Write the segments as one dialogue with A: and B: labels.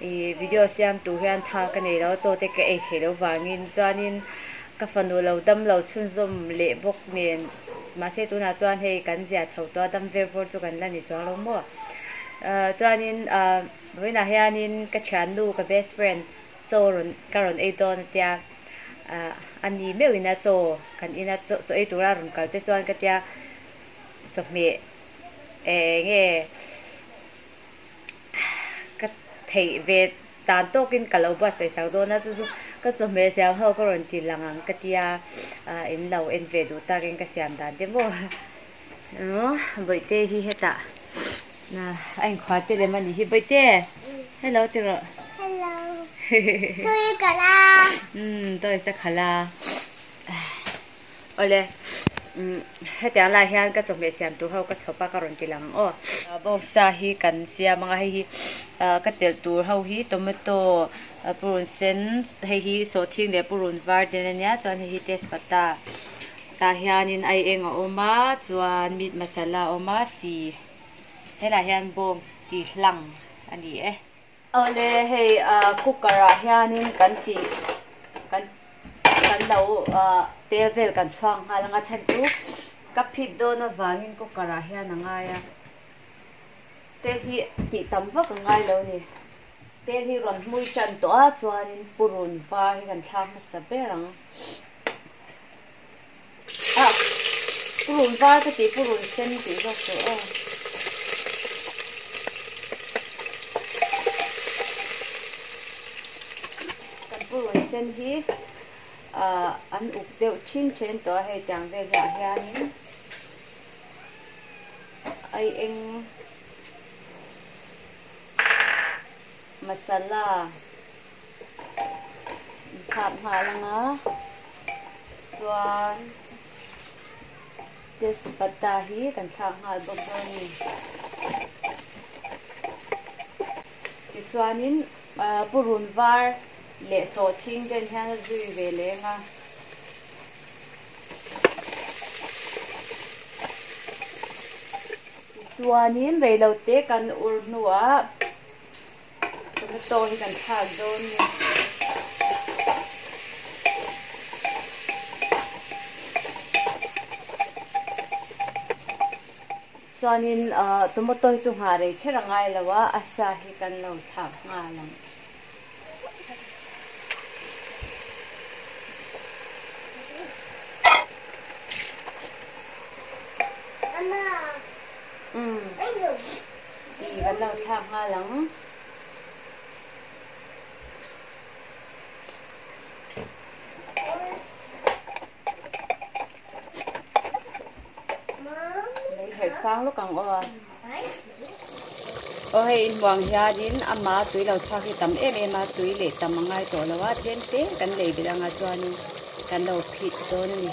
A: I video siamtu hian tha ka nei lo a chaw te ka ei thei lo vangin chuanin ka fanu lo dam lo chhunzawm leh bawk nen mahse tunah chuan hei kan zia chho tawh a dam vel vawr chu kan la ni chuang lo maw ah chuanin ah vawiinah hianin ka thiannu ka best friend chaw rawn ka rawn ei dawn a tia ah a ni meuh ina chaw kan ina chaw ei tura rawn kal te chuan ka tia chawhmeh eh eng nge. Ka theih ve dan tawkin ka lo buatsaih sak dawn a, chu chu ka chawhmeh siam ho ka rawn ti lang ang ka ti a, in lo en ve duh takin ka siam dan te maw emaw Bawihte hi hetah a inkhua te lem a nih hi, Bawihte hello ti rawh hello tawisa khalh a. Awle, hetiang lai hian ka chawhmeh siam tur ho ka chhawp a, ka rawn kilh ang ang aw. Bawngsa hi kan siam ang a, hei hi ka telh tur ho hi tomato, purun sen, hei hi sawhthing leh purun var ten a nia, chuan hei hi tezpata tah hianin ai eng a awm a, chuan meat masala a awm a, chi, he lah hian bawng tih hlang a ni e. Awle hei cooker ah hianin kan tih kan kan lo tel vel kan chhuak nghal anga chhan chu ka phit dawn avangin cooker ah hian a ngai a tel hi tih tam vak a ngai lo ni tel hi rawn hmui tan tawh a chuanin purun var hi kan thlak hmasa ber ang. Ah purun var ka tih purun sen tih zawk teh aw. Kan purun sen hi ah an uk deuh thin then tawh a hei tiang vel ah hian in ai eng masala. in khap nghal ang a, chuan tezpata hi kan thlak nghal bawk dawn a ni. Tichuanin purun var leh sawh thing ten hian a zui ve leng a. Tichuanin reilote kan ur hnuah Tomato hi kan thlak dawn ni. Chuanin tomato hi chu nghah rei kher a ngai lo a, a sa hi kan lo thlak nghah a lang. Chi kan lo thlak nghal ang. Lei herh sang lawk ang aw. Aw hei inhmuang hianin ama tui lo thlak hi tam em em a, tui leh tam a ngai tawh lo a, tlem te kan lei belh angah chuanin kan lo phit dawn a ni.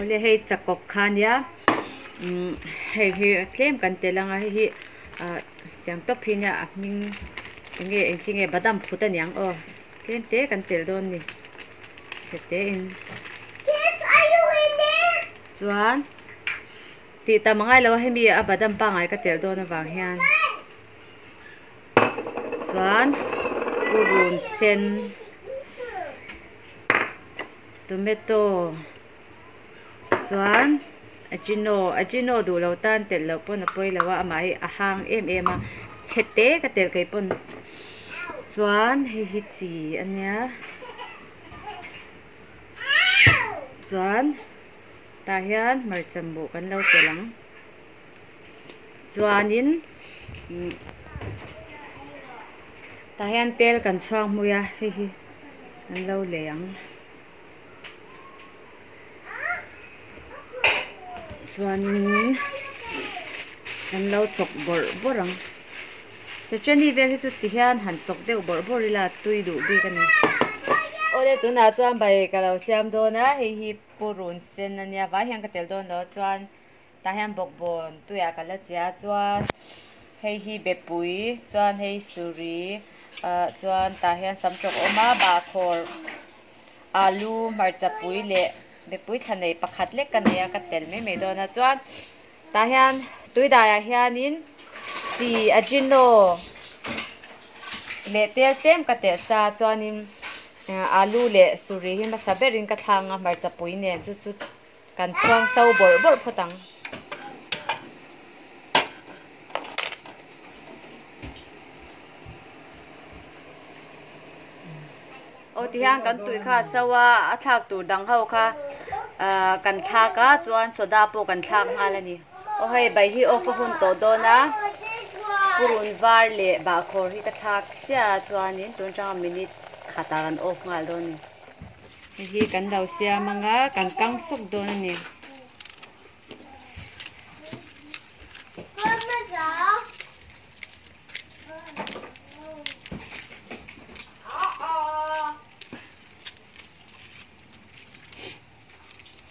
A: Awle hei chakawk kha nia hei hi tlem kan tel ang a hei hi ah tiang tawp hi nia a hming eng nge engchi nge badam phut aniang aw tlem te kan tel dawn a ni. Chetein. Kids are you in there? Chuan. Ti tam angai lo hemi a badam pangai ka tel dawn avang hian. Chuan. Urun sen. Tomato. Chuan a chino, a chino duh lo tan telh loh pawn a pawi lo a, amah hi a hang em em a, chhe te ka telh kaih pawn. Chuan hei hi chi a nia, chuan tah hian hmarcha buh kan lo telh ang. Chuanin tah hian tel kan chhuak hmui a, hei hi kan lo lei ang. chuanin an lo chawk bawrh bawrh ang che cheni vel hi chu ti hian han chawk deuh bawrh bawrh ila tui duh bik a ni aw le tunah chuan bike a lo siam dawn a hei hi purun sen a nia vai hian ka tel dawn lo chuan. Tah hian bawkbawn tuiah ka la chhia a chuan hei hi bepui chuan hei suri ah chuan tah hian sam tawk a awm a bahkhawr alu hmarcha pui leh bepui thla nei pakhat lek a nei a ka tel mai mai dawn a chuan tah hian tui daiah hianin chi ajino leh tel tlem ka teh sa chuanin alu leh suri hi hmasa berin ka thlanga hmarcha pui nen chu chu-- Kan chhuang sau bawrh bawrh phawt ang. Aw tihian kan tuih kha a sau a, a thlak tur dang ho kha kan thlak a chuan soda pawh kan thlak nghal a ni. Aw hei bai hi off a hun tawh dawn a, purun var leh bahkhawr hi ka thlak chiah a chuan in tun atanga minute khat ah kan off nghal dawn a ni. Hei hi kan lo siam anga kan kang suk dawn a ni.